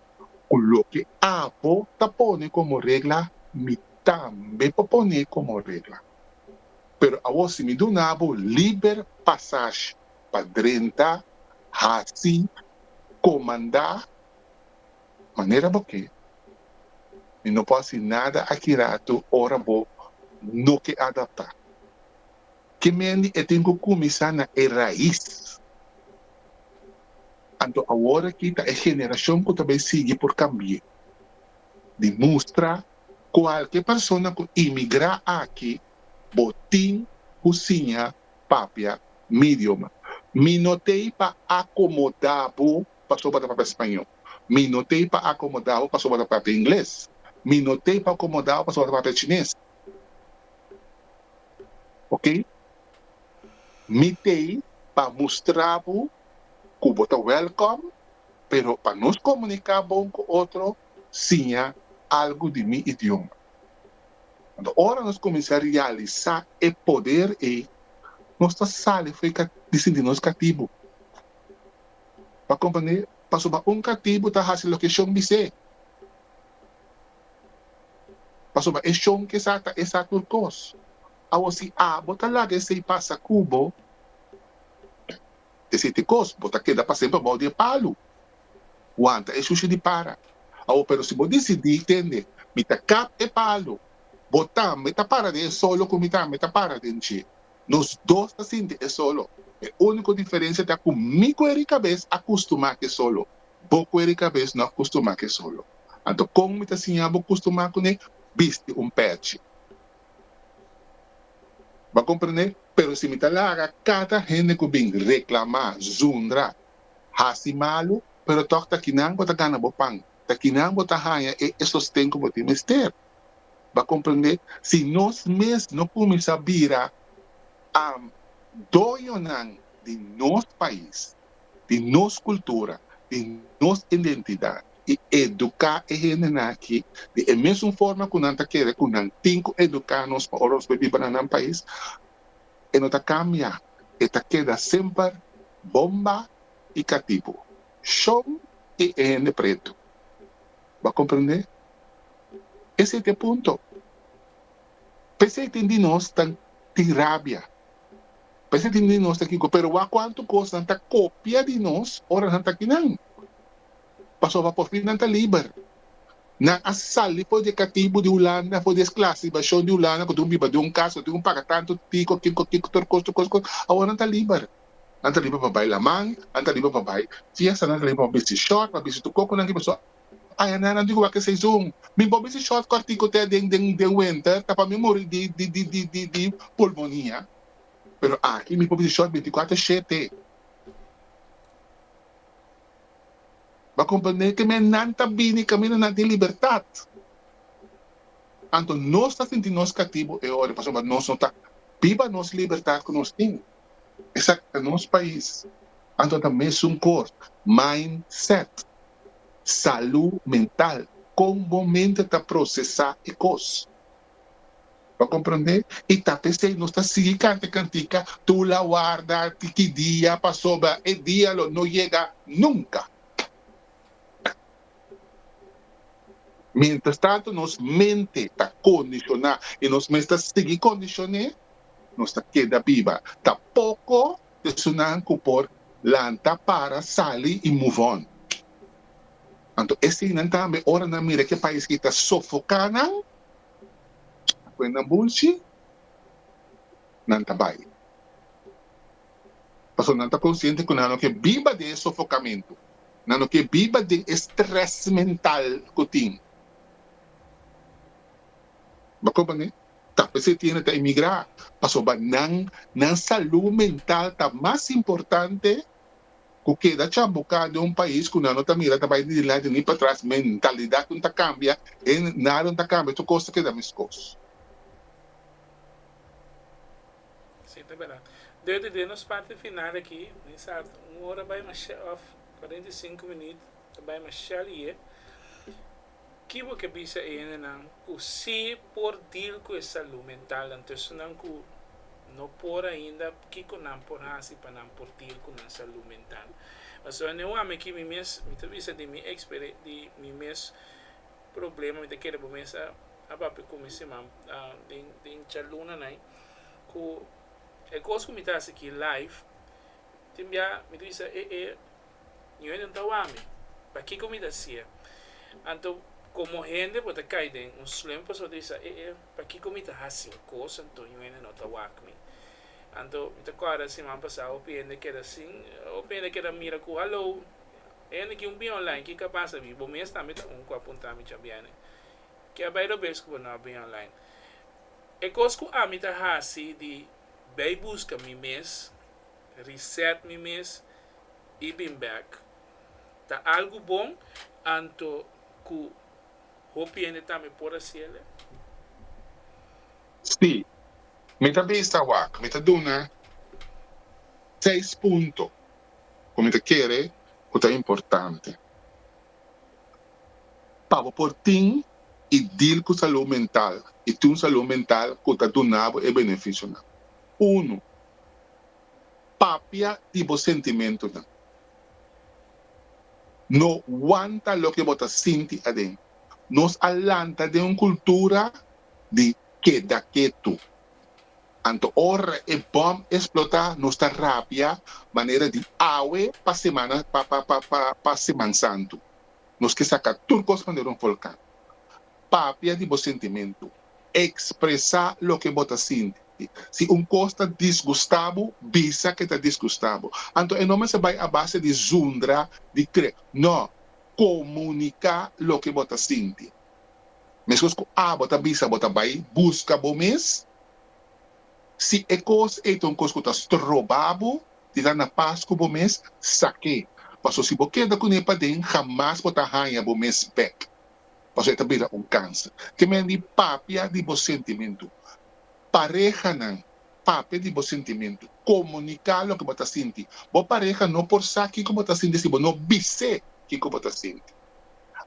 ku loke abo ta pone komo regla mi tambe por pone komo regla. Pero awor si mi duna bo liber pasash pa drenta, hasi, komandá manera bo ke, mi no por hasi nada aki ratu ora bo no ke adaptá. Ke mendi e tin ku kuminsá na e rais. Anto awor aki ta e generashon ku ta bai sigui por kambi'é. Di mustra kualke persona ku imigrá aki bo tin ku siña papia mi idioma. Mi no ta ei pa akomodá bo pasobra bo ta papia spañó. Mi no ta ei pa akomodá bo pasobra bo ta papia ingles. Mi no ta ei pa akomodá bo pasobra bo ta papia chines. Oke. Mi t'ei pa mustra bo ku bo ta wèlkòm, pero pa nos komuniká bon ku otro, siña algu di mi idioma. Anto ora nos kuminsá realisá e poder ei, nos ta sali fo'i di sinti nos katibu. M'a komprendé pasobra un katibu ta hasi loke e shon bis'é, pasobra e shon ke sa ta e sa tur kos. Awo si a bo ta laga esei pasa ku bo, esei ta e kos, bo ta keda pa semper abou di e palu. Wanta e shushi di para. Awo pero si bo disidí tende, Mi ta kap e palu, bo tambe ta para den e solo ku mi tambe ta para den dje. Nos dos ta sinti e solo. E úniko diferensia ta ku mi ku e rikabes a kustumá ku e solo, bo ku e rikabes no a kustumá ku e solo. Anto kon mi ta siña bo kustumá kuné? Bisti un pèchi. Bo a komprendé? Pero si mi ta laga kada hende ku bin reklamá, zundra, hasi malu, pero tòg ta kinan bo ta gana bo pan, ta kinan bo ta haña e sosten ku bo tin mester. Bo a komprendé? Si nos mes no kuminsá bira am doñonan di nos pais, di nos kultura, di nos identidat i eduká e hendenan aki di e mesun forma ku nan ta kere ku nan tin ku eduká nos pa ora nos bai biba na nan pais, e no ta kambia, e ta keda semper Bomba i Katibu, Shon i e hende pretu. Bo a komprendé? Esei ta e punto. P'esei tin di nos ta tin rabia, p'esei tin di nos ta kiko, pero wak kuantu kos nan ta kopia di nos ora nan ta kinan, pasobra por fin nan ta liber, nan a sali for di e katibu di Hulanda, for di e sklasibashon di Hulanda ku tin un biba den un kas, ku tin ku paga tantu tiko, kiko, kiko, tur kos, tur kos, tur kos, awor nan ta liber, nan ta liber pa bai laman, nan ta liber pa bai fiesta, nan ta liber pa bisti short, pa bisti tur koko nan ki pasó. Ay Ana, nan tin ku wak e seizoen. Mi por bisti short kòrtiku te den den den wenter, ta pa mi muri di di di di di di pulmonia. Pero aki mi por bisti short bintikuater shete. Bo a komprende ku mi nan ta bini kaminda nan tin libertat. Anto nos ta sinti nos katibu e ora, pasobra nos no ta biba nos libertat ku nos tin. Esaki ta nos pais, anto ta mesun kos, mind set, salu mental, kon bo mente ta prosesá e kos. Bo a komprondé? I ta pesei nos ta sigui kanta kantika, tu la warda ti ki dia, pasobra e dia lo no yega nunka. Mientrastantu nos mente ta kondisioná i nos mes ta sigui kondishoné, nos ta keda biba. Ta poko esunnan ku por lanta, para, sali i move on. Anto e sinan tambe, ora nan mira ke pais ki ta sofoká nan kuenda bulshi, nan ta bai. pasobra nan ta konsiente ku nan no ke biba den e sofokamentu, nan no ke biba den e strès mental ku tin. Bo komprenné? Tal bes e tiende ta emigrá pasobra nan nan salú mental ta mas importante ku keda chambuká den un pais ku nan no ta mira ta bai ni dilanti ni patras, mentalidat no ta kambia, e nada no ta kambia tur kos ta keda meskos. Sí, ta berdad. Deu di den nos parti final aki, mi sa un ora bai masha, of cuarenta y cinco minüt ta bai masha liye. Ki bo ke bisa e hendenan ku sí por deal ku e salú mentalnan? Ta esnan ku no por ainda, kiko nan por hasi pa nan por deal ku nan salú mental? Pasobra ne un ami aki, mi mes, mi ta bisa di mi ekspere, di mi mes problema, mi ta kere bo mesa. a papia cu mi siman den chaluna nai cu e cos cu mi ta haci aki live tin bia mi ta bisa e e New England ta wami pakico mi ta hacia anto como hende bo ta cay den un slump pasobra bo ta bisa e e pakico mi ta haci un cos anto New England no ta wak mi anto mi ta corda siman pasado hopi hende keda sin hopi hende keda mira cu hallo e hende ki un biaha online ki cabasa mi bo mes tambe ta un cu a punta mi cha biene Ke a bai robes ku bo no a bini online? E kos ku ami ta hasi di bai buska mi mes, reset mi mes i bin bèk ta algu bon anto ku hopi hende tambe por hasi el'e? Sí, mi ta bisa wak. Mi ta duna seis punto ku mi ta kere ku ta importante. pa bo por tin y deal cu salud mental y tin un salud mental cu ta duna bo e beneficionan. Uno, Papia di bo sentimentonan. No wanta loke bo ta sinti aden. Nos a lanta den un cultura di keda ketu. Anto ora e bòm esplotá nos ta rapia manera di awe pa semana pa Seman Santu. Nos ke saka tur kos manera un volkan. Papia di bo sentimentu. Ekspresá loke bo ta sinti. Si un kos ta disgustá bo, bisa ke ta disgustá bo. Anto e no mester bai a base di zundra, di kre. Nò, komuniká loke bo ta sinti. Mescos cu abo ta bisa bo ta bay busca bo mes, si e cos ey ta un cos cu ta stroba bo di la na paz cu bo mes, sak'e, pasobra si bo keda cu ne paden jamas bo ta haya bo mes bek, pasobra e ta bira un cancer. Te manera di papia di bo sentimento. Parehanan, papia di bo sentimento. Comunica loke bo ta sinti. Bo pareha no por sa kico bo ta sinti si bo no bis'e kico bo ta sinti.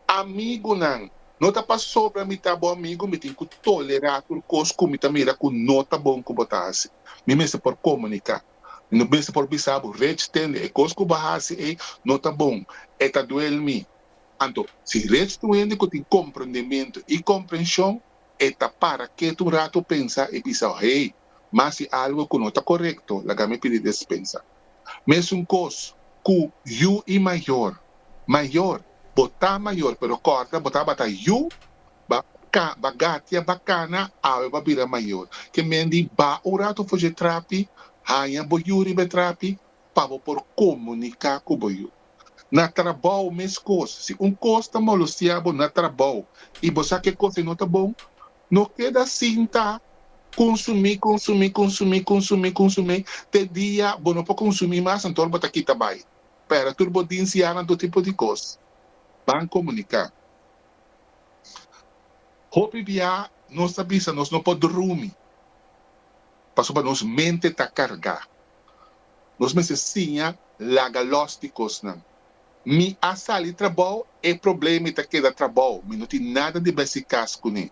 Amigunan, no ta pasobra mi ta bo amigu mi tin ku tolerá tur kos ku mi ta mira ku no ta bon ku bo ta hasi. Mi mester por komuniká. Mi mester por bisa bo, Rich, tende, e kos ku bo a hasi ei no ta bon, e ta duel mi. Anto, si Rich ta un hende ku tin komprendementu i komprenshon, e ta para ketu un ratu, pensa i bisa, Hey! mas si algo cu no ta corecto laga mi pidi despensa. Mesun cos cu yu y mayor. Mayor, bo ta mayor pero corda bo tabata yu, ba ca, ba gatia, ba cana, awe ba bira mayor. Ke men di ba un rato fush e trapi, haya bo yu riba e trapi pa bo por comunica cu bo yu. Na trabou mes cos, si un cos ta molostiabo na trabou y bo sa ke cos e no ta bon, No keda sin ta konsumí, konsumí, konsumí, konsumí, konsumí te dia bo no por konsumí mas anto bo ta kita bai. Pera tur bo di nsiá nan tur tipo di kos. Ban komuniká. Hopi biá nos ta bisa nos no por drumi pasobra nos mente ta kargá. Nos mester siña laga los di kosnan. Mi a sali trabou, e problema i ta keda trabou, mi no tin nada di bes di kas kuné.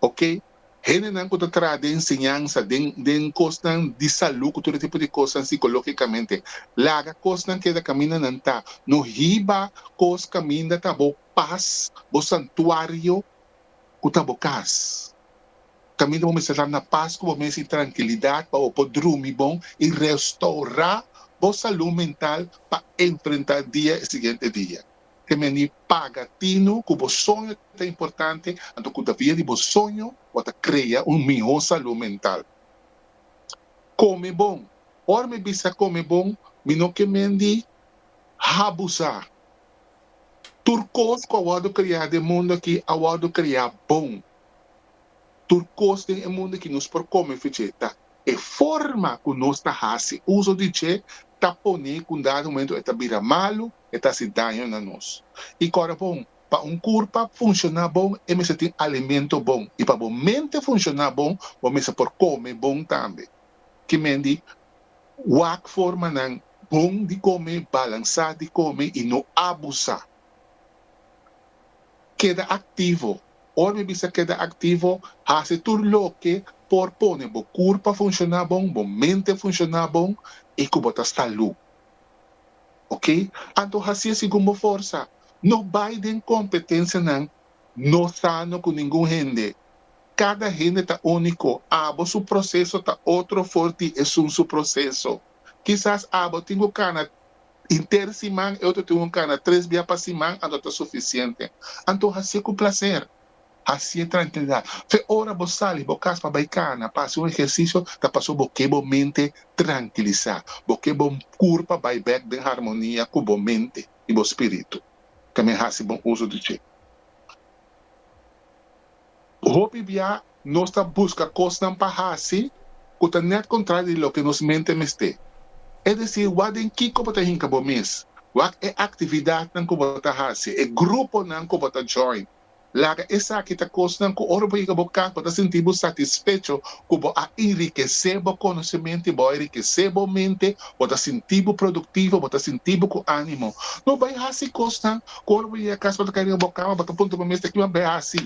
Oke, hendenan ku ta traha den enseñansa, den den kosnan di salú ku tur e tipo di kosnan sikológikamente, laga kosnan keda kaminda nan ta. No hiba kos kaminda ta bo pas, bo santuario ku ta bo kas. Kaminda bo mester tap na pas ku bo mes i trankilidat pa bo por drumi bon i restourá bo salú mental pa enfrentá dia e siguiente dia. Te meni paga tinu ku bo soño ta importante, anto ku ta via di bo soño bo ta krea un mihó salú mental. Kome bon. Ora mi bisa kome bon mi no ke men di habusá. Tur kos ku a wòrdu kreá den mundu aki a wòrdu kreá bon. Tur kos den e mundu aki nos por kome fecheta. E forma ku nos ta hasi uso di dje ta pone ku un dado momento e ta bira malu, e ta hasi daño na nos. I kòrda bon, pa un kurpa funshoná bon e mester tin alimento bon, i pa bo mente funshoná bon, bo mester por kome bon tambe. Kimen di wak formanan bon di kome, balansá di kome i no abusá. Keda aktivo. Ora mi bisa keda aktivo, hasi tur loke por pone bo kurpa funshoná bon, bo mente funshoná bon i ku bo ta salú. Oke, anto hasié segun bo forsa. No bai den kompetensianan no sano ku ningun hende. Kada hende ta úniko, abo su proseso ta otro for di esun su proseso. Kisas abo tin ku kana Henter siman e otro tin un cana tres bia pa siman anto ta suficiente. Anto haci'e cu placer. Haci'e tranquilidad. Fe ora bo sali bo cas pa bay cana, pa haci un ejercicio ta pasobra bo ke bo mente tranquilisa. Bo ke bo cur pa bay bek den harmonia cu bo mente y bo spiritu. Tambe haci bon uso di dje. Hopi bia nos ta buska kosnan pa hasi ku ta nèt kontrario di loke nos mente mester. Es desir, wak den kiko bo ta hinka bo mes, wak e aktividatnan ku bo ta hasi, e gruponan ku bo ta join. Laga esaki ta kosnan ku ora bo yega bo kas bo ta sinti bo satisfecho ku bo a enrikesé bo konosementu i bo a enrikesé bo mente, bo ta sinti bo produktivo, bo ta sinti bo ku ánimo. No bai hasi kosnan Ora bo yega kas bo ta kai riba bo kama bo ta puntra bo mes te kiba bea asi?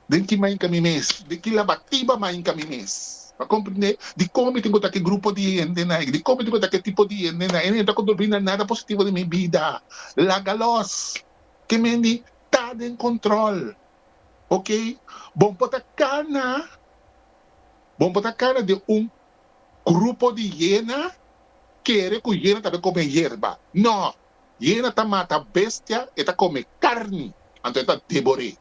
Den ki mainka mi mes? Den ki labatiba mainka mi mes? Pa komprendé dikon mi tin ku ta ki grupo di hendenan aki, dikon mi tin ku ta ki tipo di hendenan aki, e ta kontribui na nada positivo den mi bida. Laga lòs! Ke mendi ta den kontrol. Oke, bo por ta kana, bo por ta kana den un grupo di hiena kere ku hiena tambe kome yerba. Nò! Hiena ta mata bestia, e ta kome karni, anto e ta debor'é.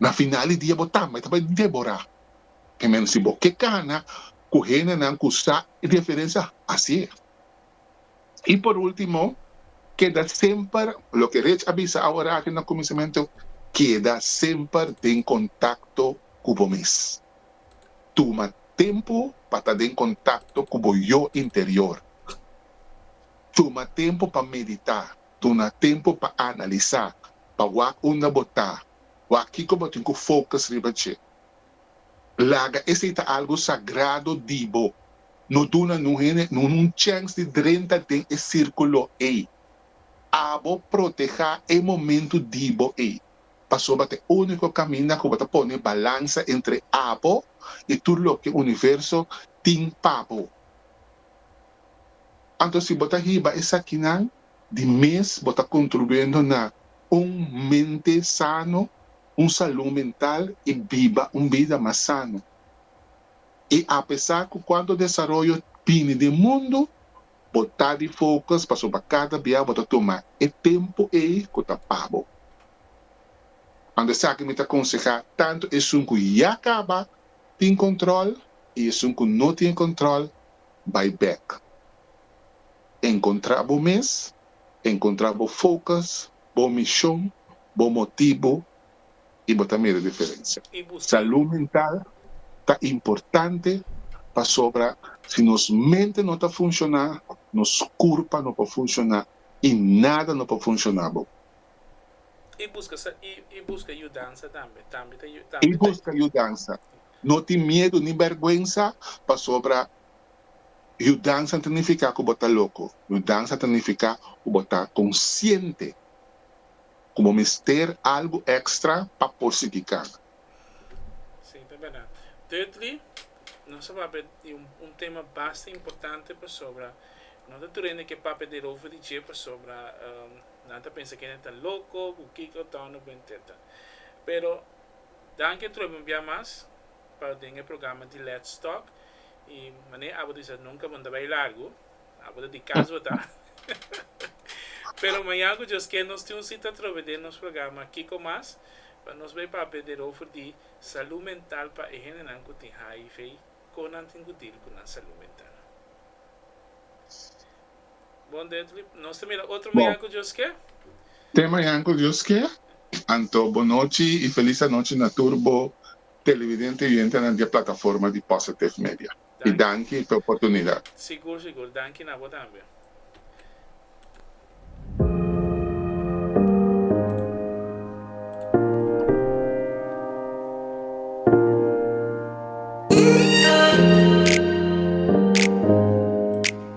Na final di dia bo tambe ta bai deborá e men. Si bo ke kana ku henanan ku sa e diferensia, hasié. I por último, keda semper, loke Reg a bisa awor aki na kuminsamentu, keda semper den kontakto ku bo mes. Tuma tempu pa ta den kontakto ku bo yo interior. Tuma tempu pa meditá. Duna tempu pa analisá, pa wak unda bo ta, wak kiko bo tin ku fokus riba dje. Laga esei ta algu sagrado di bo. No duna nun hende nun un chèns di drenta den e sírkulo ei. Abo protehá e momentu di bo ei, pasobra ta e úniko kaminda ku bo ta pone balansa entre abo i tur loke universo tin pa bo. Anto si bo ta hiba esakinan di mes bo ta kontribuendo na un mente sano, un salú mental i biba un bida mas sano. I apesar ku kuantu desaroyo bini den mundu, bo ta di fokus pasobra kada bia bo ta tuma e tempu ei ku ta pa bo. Anto esaki mi ta konsehá tantu esun ku ya kaba tin kòntròl i esun ku no tin kòntròl bai bek. Encontra bo mes, encontra bo focus, bo mision, bo motibo y bo ta mira diferencia. Salud mental ta importante pasobra si nos mente no ta funciona, nos curpa no por funciona y nada no por funciona bo. Y busca yudansa tambe. Y busca yudansa. No tin miedu ni bèrgwensa pasobra yudansa no ta nifiká ku bo ta loko. Yudansa ta nifiká ku bo ta konsiente ku bo mester algu èkstra pa por sigui kana. Sí, ta bèrdat. Thirdly, nos a papia di un tema basta importante pasobra no ta tur hende ke papia derover di dje pasobra nan ta pensa ku hende ta loko ku kiko tònde bo, etcetera. Pero. Danki trobe un bia mas pa den e programa di Let's Talk y mane abo disa nunca bo no ta bay largo, abo ta di cas bo ta. Pero maña cu Dios ken nos tin un cita trobe den nos programa Kico Mas pa nos bay papia derover di salud mental pa e hendenan cu tin HIV, con nan tin cu deal cu nan salud mental. Bo te mañan ku Dios ke? Anto bon nochi i felis anochi na tur bo televidente i oyentenan di e plataforma di Positive Media. I danki p'e oportunidat.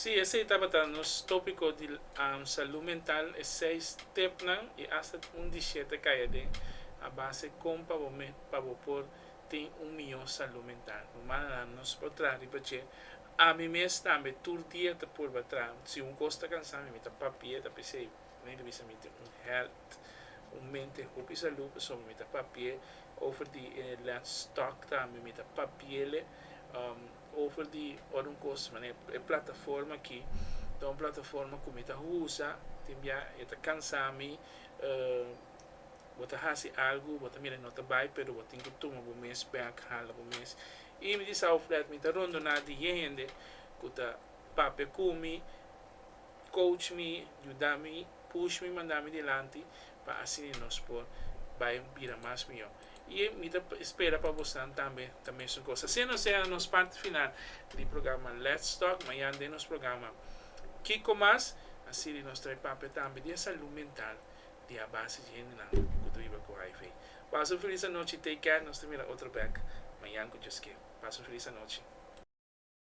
Sí, esei tabata nos tópiko di salú mental, e seis stepnan i asta un di shete kai aden, a base kon pa bo mes pa bo por tin un mihó salú mental. Bo manda nan nos por traha riba dje. Ami mes tambe tur dia ta purba traha. Si un kos ta kansá mi, mi ta papia ta p'esei mi bai bisa mi tin un hèlt, un mente hopi salú pasobra mi ta papi'é over di e lèt stòk tambe mi ta papi'é lé. Over di ora un cos manera e plataforma aki ta un plataforma cu mi ta usa tin bia e ta cansa mi bo ta haci algo bo ta mira e no ta bay pero bo tin cu tuma bo mes back hala bo mes y mi di Sao Flat mi ta rondona diez hende cu ta papia cu mi coach mi yuda mi. push mi, manda mi dilanti, pa asina nos por bai bira mas mihó. I mi ta spera pa bosnan tambe ta mesun kos. Asina nos yega na nos parti final di programa Lets Tok. Mañan den nos programa Kiko Mas a sirbi nos trae papia tambe di e salú mental di a base di hendenan ku ta biba ku hiv. Pasa un felis anochi, take care, nos ta mira otro bèk mañan ku Dios ke. Pasa un felis anochi.